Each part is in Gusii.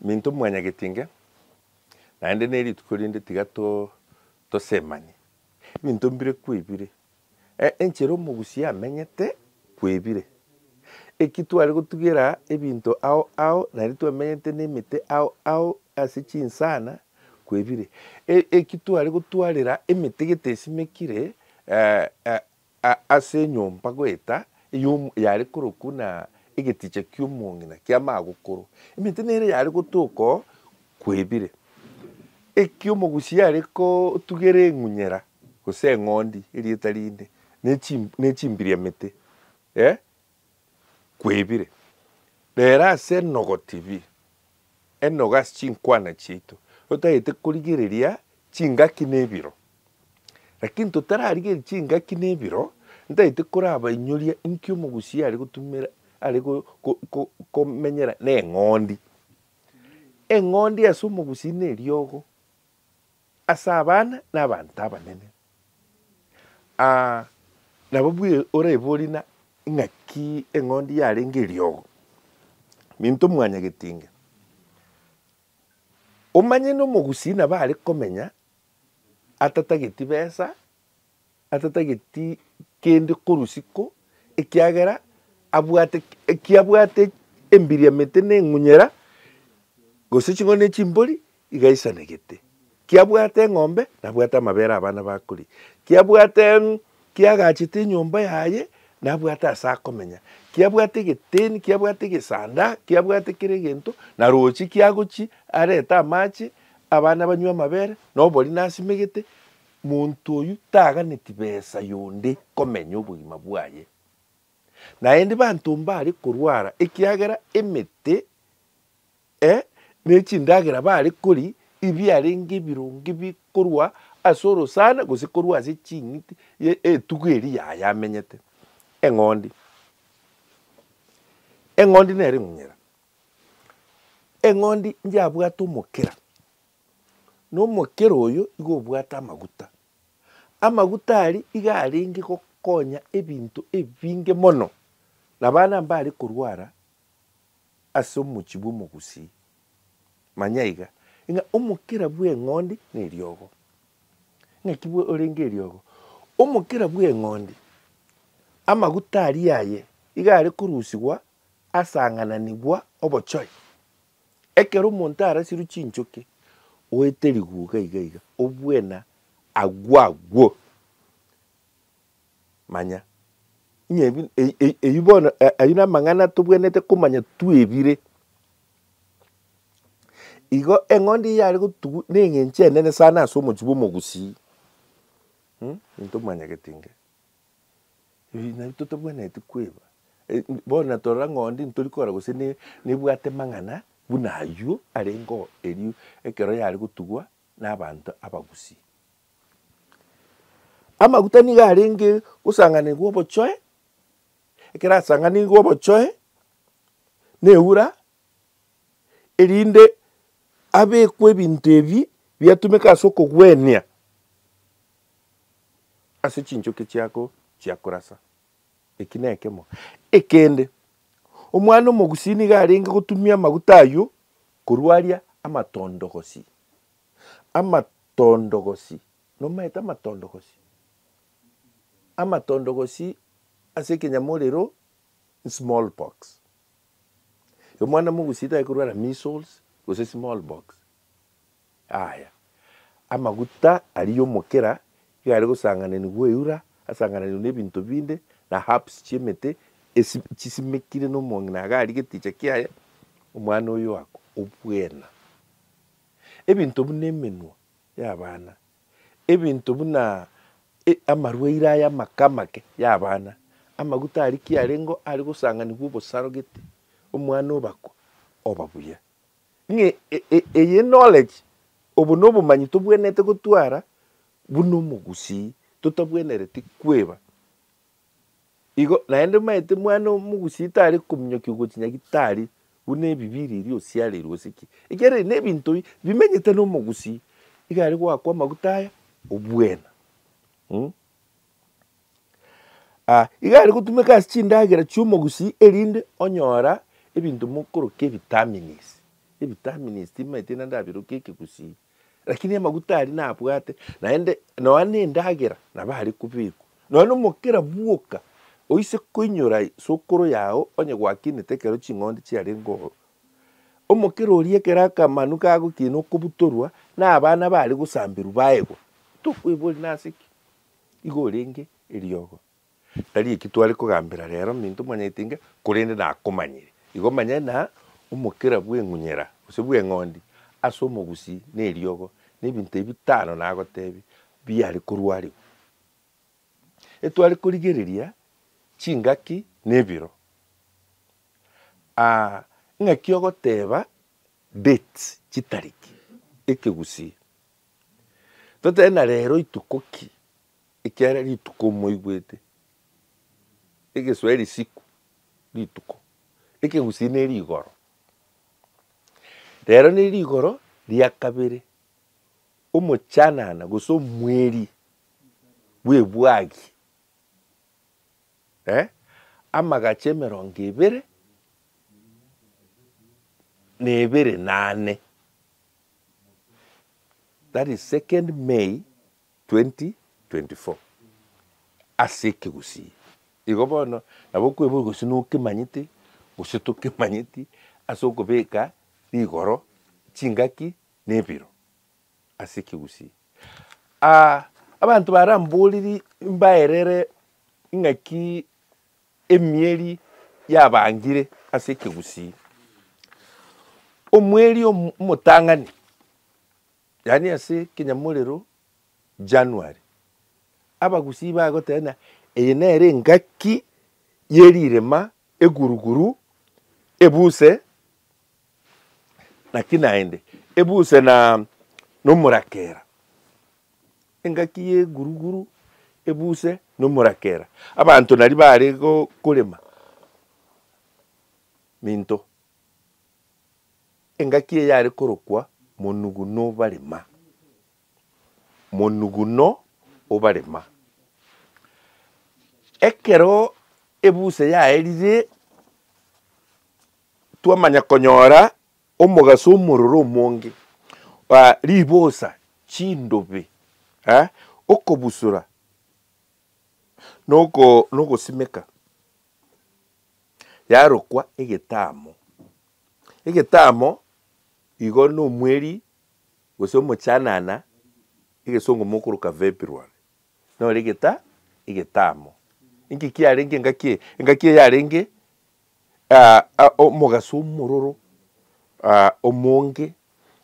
Minto mwanyagetinge, naende nerituko rinde tiga tosemanie. Ebinto mbire kwebire, enchera omogusia amenyete kwebire. Eki tware gotugera ebinto ao ao naende twamenyete nemete ao ao ase chinsana kwebire. Eki tware gotwarera emete gete esimekire Ase enyomba goeta eyomo yare korokwo na egeticha ki'omong'ina ki'amagokoro, emente nere yare gotoka oo kwebire. Eki omogusi are kotugera eng'unyera, gose eng'ondi, erieta rinde, ne chimbiriamete, ee, kwebire, rero ase enogo tibii, enogo ase chinkwana chiaito, totagete korigereria chingaki na ebiro. Lakini totararigereria chingaki na ebiro, ntagete korabainyoria inki omogusii are gotumera are go- go- go- komenyera na eng'ondi. Eng'ondi ase omogusii na eriogo. Ase abana na abanto abanene. Aa, nabo bwe oraibori na ing'aki eng'ondi yarenge eriogo. Minto mwanyaa getinge. Omanye nomogusii nabo are komenya atatageti besa atatageti kende korusi ko, ekiagera abwate eki abwate embiriamete na eng'unyera, gose ching'ondi ne chimbori, iga aisanegete. Ki abwate eng'ombe, nabwate amabere abana bakoria. Ki abwate em, ki agachete enyomba yaye, nabwate ase akomenya. Ki abwate egeteni, ki abwate egesanda, ki abwate kera egento, na roche ki agochia arete amache, abana banywe amabere, na obori nasimegete. Monto oyio taganeti besa yonde komenya obogima bwaye, naende banto mbare korwara ekiagera emete, e, ne chindagera bare kori ibiarenge ebironge bikorwa ase orosana gose korwa ase ching'iti ye etugo eri yaye amenyete. Eng'ondi. Eng'ondi nere ng'unyera. Eng'ondi njabwate omokera. Nomokera oyo igo obwate amaguta. Amaguta aria iga arenge gokonya ebinto ebinge mono, na abana mbare korwara ase omochie bw'omogusii. Manya iga, ng'a omokera bw'eng'ondi neriogo. Ng'aki orenge eriogo? Omokera bw'eng'ondi, amaguta aria aye iga are korusigwa asang'ananigwa obochore. Ekero omonto arasirwe chinchoki oete riguga iga iga obwena agwo agwo manya ng'a ebi eyio bono ayio namang'ana tobwenerete komanya twebire. Igo eng'ondi eyio yare gotugwa na eng'encho enene sana ase omochie bwa omogusii, mh, ninto mwanyagete inga. Eeh nari totabwenereti kweba, eh bono na torora ng'a onde ntori kora gose ne nebwate mang'ana buna aywo arengeo erio ekero yare gotugwa na abanto abagusii. Amaguta nigo arenge gosanganigwa obochoe, ekero asanganigwe obochoe na eura, erinde abekwe ebinto ebi biatumeka ase okogwenia. ase chinchoki chiako chia korasa. Eki nekemo. Ekende, omwana omogusii nigo arenge gotumia amaguta ayio korwa aria amatondogosi, amatondogosi, nomaete amatondogosi, amatondogosi ase ekenyamorero small pox. Omwana mogusii taye korwara measles gose small pox. Aaya, amaguta aria y'omokera iga are gosangananigwa eura, asangananigwe n'ebinto binde, na herbs chi'emete, esi chisimekire nomong'ina iga aria geticha kiaye, omwana oyo akwe obwena. Ebinto buna emenwa y'abana, ebinto buna e, amarwaire aya amake amake y'abana, amaguta aria ki arengeo are gosanganigwa obosaro gete, omwana obakwe, oba buya. ng'a eye knowledge, obo nobomanyi tobwenerete gotwara buna omogusii totabwenereti kweba. Igo naende omanyete mwana omogusii tari kominyokia gochi nyagetari buna ebibii riria osiareirwe gose ki. Ekiagera ebi nebinto bi bimenyete nomogusii, igare goakwa amaguta aya obwena. Iga are gotumeka ase chindagera chi'omogusii erinde onyora ebinto mokoroka ebitamines. Ebitamines timanyeti naende abirokia ekegusii. Rakini amaguta aria nabwate naende nonya na endagera nabo are kobekwa. Nonya na omokera bwoka oise koinyora sokoro yago onye gwakinete ekero ching'ondi chiarenge ororo. Omokera oria ekero akamanu kagokina okobutorwa na abana bare gosamberwa baegwa tokoiboria nase ki? Igo orenge eriogo. Tari eki tware kogambera rero minto mwanyaete inga, korende nakomanyire. Igo manya na omokera bw'eng'unyera gose bw'eng'ondi ase omogusii na eriogo nebinto ebi bitano nagotebia biare korwarigwa. Etware korigereria chingaki na ebiro. Ng'aki ogoteba date, chitariki, ekegusii Totebe na rero ituko ki? Ekiagera rituko moigwete, egeswaeri siku rituko, ekegusii ne rigoro. Rero ne rigoro ria kabere, omochanana gose omweri bw'ebwagi eh, amagacho emerongo ebere na ebere nane. that is 2nd May 2024 ase ekegusii igo bono nabo okoeboria gose nokemanyete gose tokemanyeti ase okobeka rigoro chingaki na ebiro ase ekegusii. Abanto baramboriri mbaerere ng'aki. Emieri yabangire ase ekegusii. Omweri omotang'ani, yaani ase ekenyamorero January, abagusii bagotebana eye nere engaki ye rirema, eguruguru, ebuse, Naki naende, ebuse na nomorakera, engaki y'eguruguru, ebuse na omorakera. Abanto naria bare korema minto, engaki eye yare korokwa monuguno obarema, monuguno obarema. Ekero ebuse yaerire. Twamanya konyora omogaso omororo omonge, ribosa, chindobe, okobusura, na ogosimeka yarokwa egetamo. Egetamo igo na omweri gose omochanana, egesongo mokoroka February, nore egetamo. Inki kiarenge engaki eye? Engaki eye yarenge omogaso omororo omonge,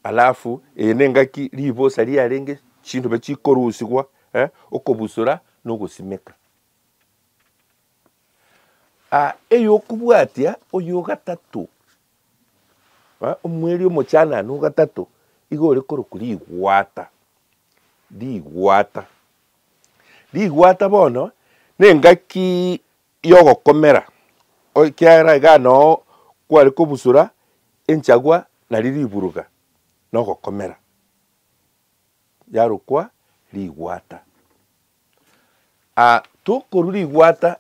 alafu eye nengaki ribosa riarenge chindobe chikorusigwa okobusora na ogosimeka. Eyokobwatia oye ogatato, omweri omochanana ogatato iga ore korokwa rigwata, rigwata, rigwata bono nengaki y'ogokomera, ekiagera igaa noo kware kobusura enchagwa nario riburuga nogokomera, yarokwa rigwata. Tokorwa rigwata,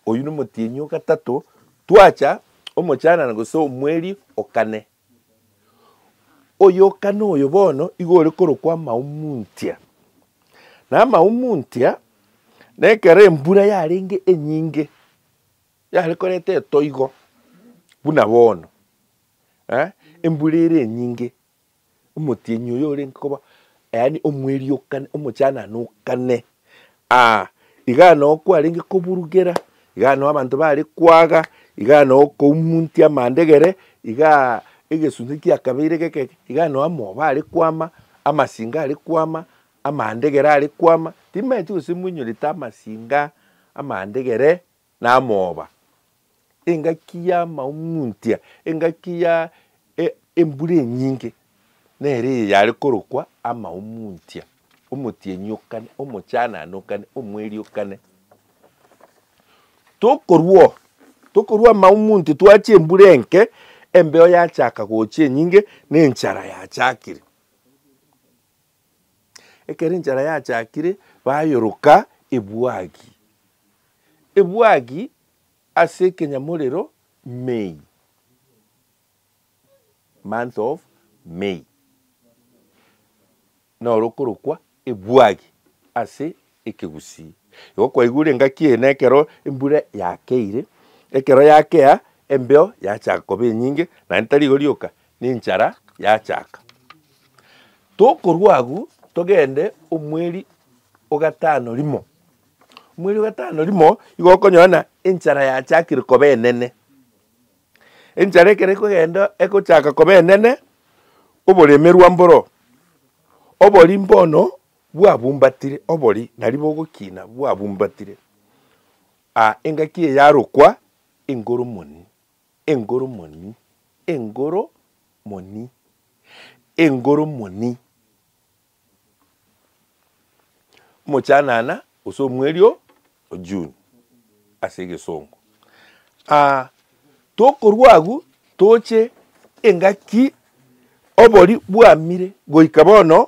oyio nomotienyi ogatato, twacha omochanana gose omweri okane. Oyokana oyo bono igo ore korokwa amahumuntia. Na amahumuntia, na ekero embura yarenge enyinge, yare koreta etoigo buna bono, eh, embura ere enyinge. Omotienyi oyo orenge koba, yaani omweriokani, omochanane o kane. Aa, igaa noo kwarenge koburugera, igaa noo abanto bare kwaga, igaa noo koumuntia amandegere, igaa egesunte kia kabeire geke, igaa noo amoba are kwama, amasinga are kwama, amandegere are kwama, timaeti gose mwenyorete amasinga, amandegere. namooba, engaki y'amaung'untia, engaki ya e- embura enyinge, nere eye yare korokwa amaung'untia, omotienyi o kane, omochanane o kane, omweri o kane. Tokorwa oo, tokorwa amaung'unti twachia embura enke, embeo yachaka gocha enyinge, na enchara yachakire. Ekero enchara yachakire bayoroka ebwagi ebwagi ase ekenyamorero May, month of May, noro okorokwa ebwagi ase Ekegusii. Igo kwaigure engaki eye nekero embura yakeire, ekero yakea embeo yachaka koba enyinge, naende tari igo rioka, na enchara yachaka. Tokorwa agwo togende omweri ogatano rimo, omweri ogatano rimo igo okonyora ng'a enchara yachakire koba enene. Enchara ekero ekogenda egochaka koba enene, oboremerwa mboro, oboria mbono. bwabumbatire, obori naribo ogokina bwabumbatire, a engaki eyarokwa engoromoni, engoromoni, engoromoni, engoromoni. Omochanana gose omweri o June ase egesongo. Aa tokorwa agwo toche engaki obori bwamire goika bono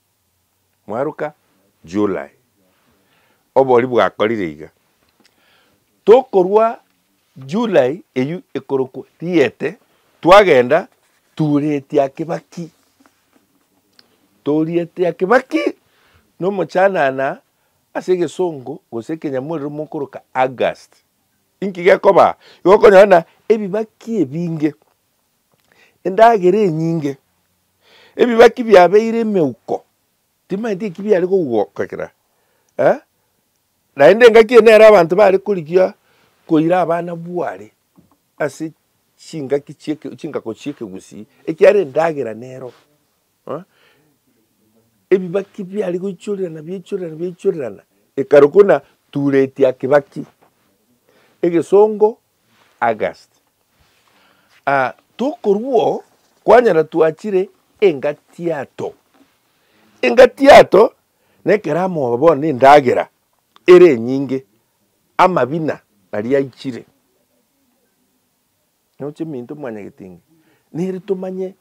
Mwaruka? July. Obori bwakorire iga. Tokorwa July eyio ekorokwa Riete, twagenda Tuuretia Kibaki. Tuuretia Kibaki nomochanana ase egesongo gose ekenyamorero mokoroka August. Inki gekoba? Igo okonyora buna ebibaki ebinge endagera enyinge, ebibaki biabeire emeuko, timanyeti eki biare kogokera eh, naende engaki eye nere abanto bare korigia koira abana bware ase chingaki chieke chingako chiekegusii ekiagera endagera nero eh, ebibaki biare goichorerana biaichorerana biaichorerana ekaro kona ture etia kibaki, egesongo. August. Aa tokorua oo kwanyara twachire engatiato. Engatiato nekero amoba bono ne endagera ere enyinge, amabina aria aichire. Noche minto mwanyagetinga nere tomanye.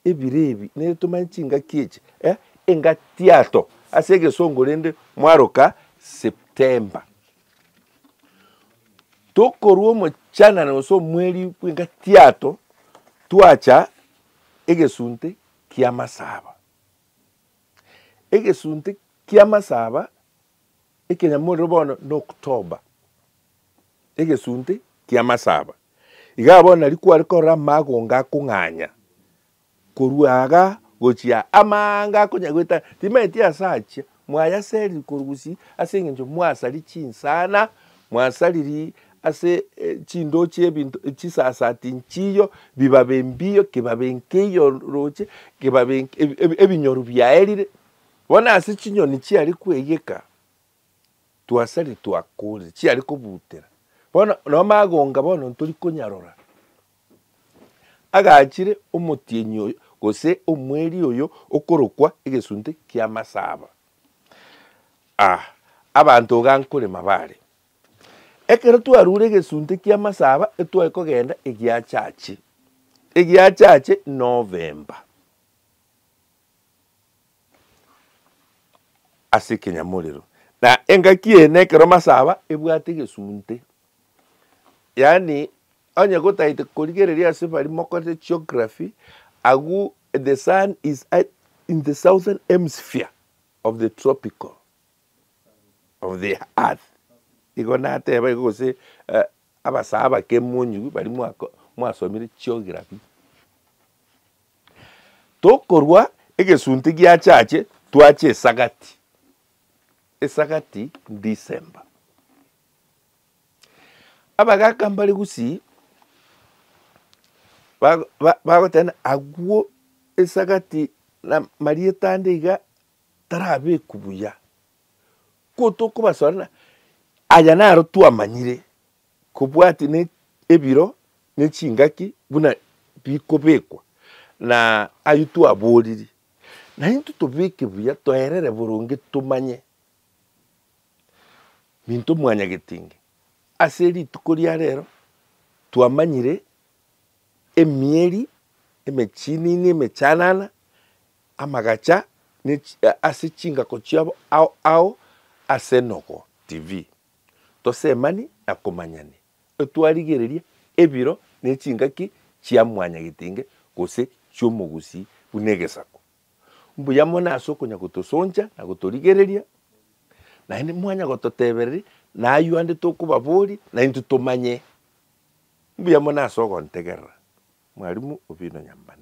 Ebire ebi nere tomanye chingaki echi eh engatiato ase egesongo rende mwaroka September. Tokorwa omochanano gose omweri bw'engatiato twacha egesunte ki'amasaba. Egesunte ki'amasaba Ekenyamorero bono n'October, egesunte ki'amasaba. Igaa bono nari kware korora amagonga akong'anya korwa aaga gochia aa, amaanga akonya goeta, timanyeti ase achia, mwayaseriri korwa gusii ase eng'encho mwasari chinsana, mwasariri ase chindoo chi'ebinto chisasati nchiiyo, bibabe mbiiyo, kibabe nkeiyo roche, kibabe nk ebi ebinyoru biaerire. Bono ase chinyoni chiare kweyeka, twasari twakorire, chiare kobutera. Bono nao magonga bono ntori konyarora, agachire omotienyi oyo, gose omweri oyo okorokwa egesunte kia masaba. Ah, abanto iga nkorema bare. Ekero twarure egesunte kia masaba etware kogenda egiachache, egiachache November. ase ekenyamorero, na engaki eye nekero masaba ebwate egesunte. Yaani onye gotagete korigereria ase bari mokorete geography, agwo the sun is at in the southern hemisphere of the tropical of the earth, igo nateba igo gose abasaba abakemu onye bari mwako mwasomire geography. Tokorwa egesunte gia chache twache esagati, esagati December. Abagaka mbare gusii bago ba bagoteba na agwo esagati na marieta ande iga tarabekwa buya. Ko tokobasore na aya naro twamanyire. kobwati ne ebiro ne chingaki buna bikobekwa, na ayio twaboriri, na intwe tobeke buya toerere boronge tomanye minto mwanyagete inge. Ase rituko ria rero twamanyire emieri emechinini emechanana, amagacha ase chingako chiabo ao ao ase Nogo TV. Tosemani na komanyani, etwarigereria ebiro ne chingaki chia mwanyagetinge gose chi'omogusii buna egesaku. Mbuya mono ase okonya gotosoncha na gotorigereria, naende mwanya gototebereria nayio ande tokobaboria naintwe tomanye. Mbuya mono ase ogontegerera, Mwarimu Obino Nyambane.